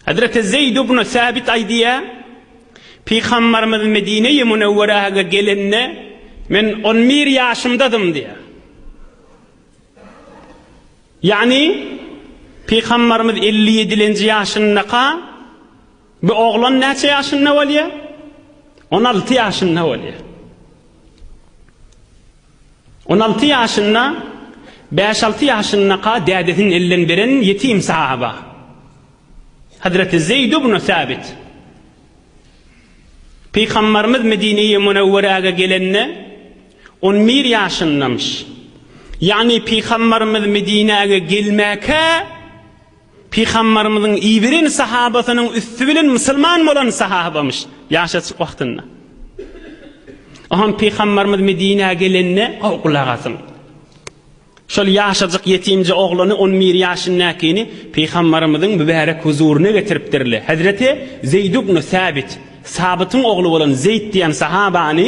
Hezreti Zeýd ibn Säbit aýdýar, Pygamberimiz Medine-i Münewwerege gelende, men on bir ýaşymdadym diýýär. Ýagny, Pygamberimiz elli ýedilenji ýaşyndaka, bu oglan näçe ýaşynda bolýar? On alty ýaşynda bolýar. On alty ýaşynda bäş-alty ýaşyndaka dädesiniň elinden beren ýetim sahaba, Hazreti Zeýd ibn Sabit. Pygambarymyz Medineye Munewwerege gelende on bir ýaşyndamyş. Ýagny Pygambarymyz Medinäge gelmäkä Pygambarymyzyň iberen sahabasynyň üsti bilen musulman bolan sahabamyş, ýaşajyk wagtynda. Oňam pygambarymyz Medinä gelende, gowy gulak asyň. Şol ýaşajyk ýetimje oglany, on bir ýaşyndakini pygambarymyzyň mübärek huzuryna getiripdirle. Hezreti Zeýd ibn Sabit, Sabytyň ogly bolan Zeýd diýen sahabany,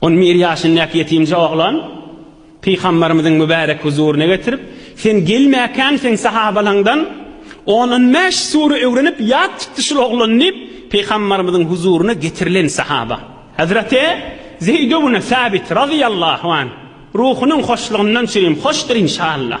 Ony bir ýaşyndaky ýetimje oglan Pygamberimiziň mübärek huzuryna getirip, Sen gelmäkäň seň sahabalaňdan on-on bäş sure öwrenip ýat tutdy şul oglan diýip, Pygamberimiziň huzuryna getirilen sahaba. Hazreti Zeýd ibn Sabit razyýallahu anh, ruhunyň hoşlugyndan çürim hoşdur inşallah.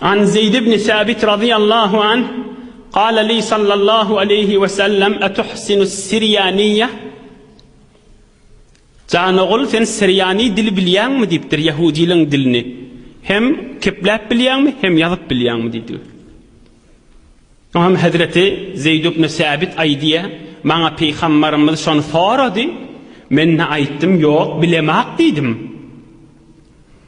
An Zeýd ibn Sabit razyýallahu anh Gale li sallallahu aleýhi we sellem etuhsinus sirýaniýe Jan ogul sen sirýani dili bilýäňmi diýipdir ýehudiliň dilini hem kepläp bilýäňmi hem ýazyp bilýäňmi diýdi Oňam hezreti Zeýd ibn Sabit aýdýa maňa pygambarymyz şony sorady men-de aýtdym ýok bilemak diýdim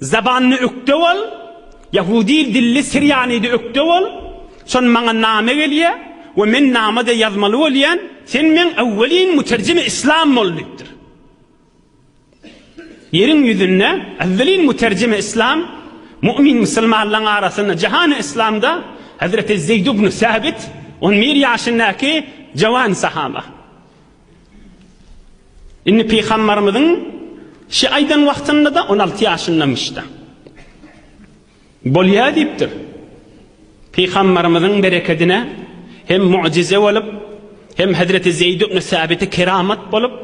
Zabanyny ökde bol, ýahudi dilli sirýanidi ökde bol, şon maňa name gelýä we men namede ýazmaly bolýan, sen meň ewwelin muterjimi islam bol diýipdir. Ýeriň ýüzünde ewwelin muterjimi islam, mu'min musulmanlaň arasynda jahany islamda Hazreti Zeýd ibn Sabit on bir ýaşyndaky jawan sahaba. Indi pygamberimiziň şi aýdan wagtynda-da on alty ýaşyndamyş-da. Bolýa diýipdir. Pygamberimiziň berekedine hem mu'jize bolup, hem Hezreti Zeýd ibn Sabite keramat bolup,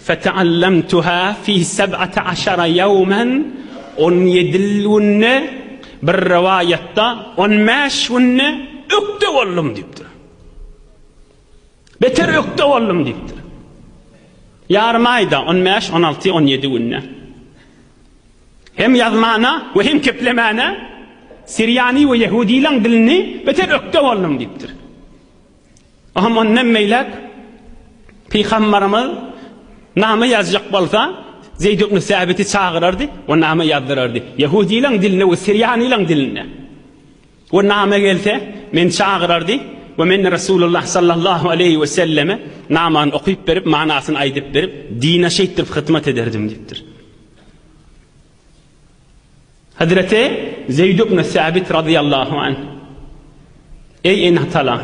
Feta'allamtuha fi seb'ata aşara ýawman, on ýedi günde, bir rowaýatda, on bäş günde ökde boldum diýipdir. Beter ökde boldum diýipdir. Ýarym aýda, on bäş, on alty, on ýedi günde. Hem ýazmana we hem keplemana siriýany we ýehudylaň dilini beter ökde boldum diýipdir. Oňam ondan meýläk pygambarymyz name ýazjak bolsa, Zeýd ibn Säbiti çagyrardy we name ýazdyrardy. Ýehudylaň dilinde we siriýanylaň dilinde. We name gelse, meni çagyrardy we men Resulullah sallallahu aleýhi we selleme namany okyp berip, manasyny aýdyp berip, dine şeýtdirip hyzmat ederdim diýipdir. Hazreti Zeýd ibn Sabit radyýallahu anh, Eý ene-atalar,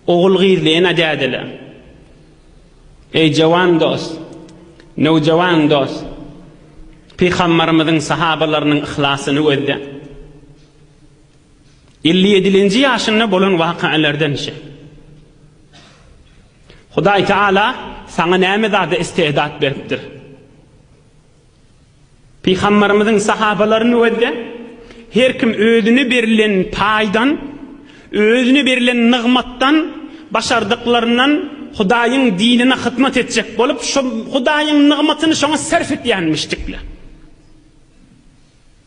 ogul-gyzly ene-dädeler, eý jawan dost, nowjawan dost, Pygambarymyzyň sahabalarynyň yhlasyny gözle. Elli ýedilenji ýaşynda bolan wakalardan şe. Hudaý Taala saňa näme zada istedat beripdir? Pygamberimiziň sahabalaryny wezde her kim özüne berilen paýdan, özüne berilen nygmatdan, başardyklaryndan Hudaýyň dinine hyzmat etjek bolup, şu Hudaýyň nygmatyny şoňa sarf etýänmişdikler.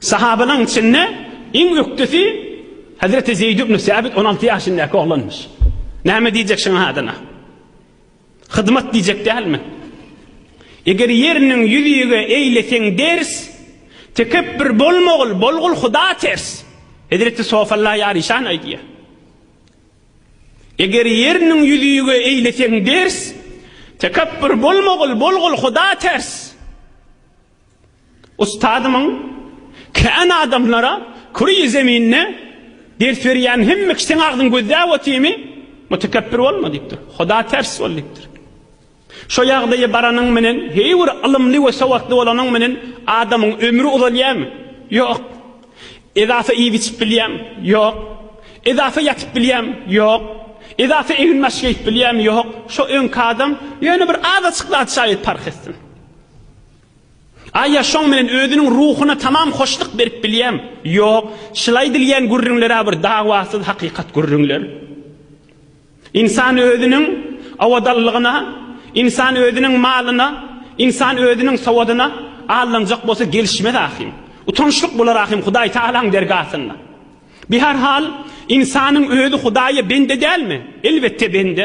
Sahabalaryň içinde iň ökdesi Hezreti Zeýd ibn Säbit on alty ýaşyndaky oglanmyş. Näme diýjek şuň adyna? Hyzmat diýjek dälmi? Eger ýeriniň ýüzüge eýleseň ders, Tekepbir bolma ogul, bolgul Huda ters. Hezreti Sofalla ýaryşan aýdýar. Eger ýeriniň ýüzüge eýleseň ders, Tekepbir bolma ogul, bolgul Huda ters. Ustadymyň kän adamlara küreýi zeminde ders berýän hemme kişi seň agzyňy gözläp otymy mutekebbir bolma diýipdir. Huda ters bol diýipdir. Şo ýagdaýa baranyň menen heý bir ylymly we sowatly bolanyň menen adamyň ömri uzalýamy? Ýok. Edasa iýip içip bilýäm? Ýok. Edasa ýatyp bilýäm? Ýok. Edasa egin baş geýip bilýäm? Ýok. Şo öňki adam ýöne bir azaçykla şaýat parh etsin. A ýa şoň bilen özüniň ruhuna tamam hoşluk berip bilýäm? Ýok, şyl aýdylýan gürrüňler-ä bir dawasyz hakykat gürrüňler. Ynsan özüniň owadanlygyna, ynsan özüniň malyna, ynsan özüniň sowadyna aldanjak bolsa gelişmez ahym. Utançlyk bolar ahym Hudaýtagalaň dergasynda. Bi her hal, ynsanyň özi Hudaýa bende dälmi? Elbetde bende.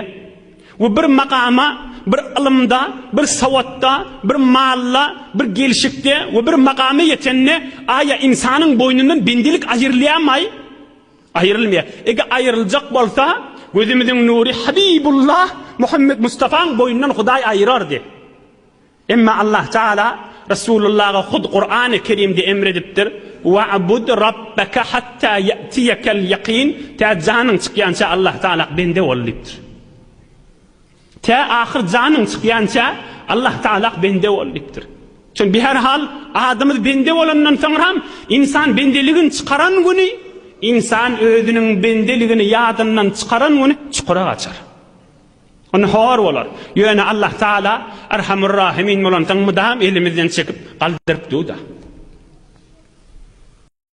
We bir makama, bir ylymda, bir sowatda, bir malla, bir gelşikde we bir makama ýetende, aýa ynsanyň boýnundan bendelik aýrylýamaý? Aýrylmaýa. Ege aýryljak bolsa, gözümiziň nury Habibullah Muhammet Mustafaň boýnundan Hudaý aýyrardy. Emma Allah Tagala Resulullaga hut Kurany Kerimde emr edipdir, Wa'bud Rabbeke hatta ye'tiyekel yakin, tä janyň çykýança Allah Tagala bende bol diýipdir. Tä ahyr janyň çykýança Allah Tagala bende bol diýipdir. Çünki bi her hal adamyz bende bolandan soňram insan bendeligini çykaran güni, insan özüniň bendeligini ýadyndan çykaran güni çukura gaçar. Onda hor bolar. Ýöne Allah Taala Erhamur-Rahimin bolansoň mydam elimizden çekip galdyryp dur-da.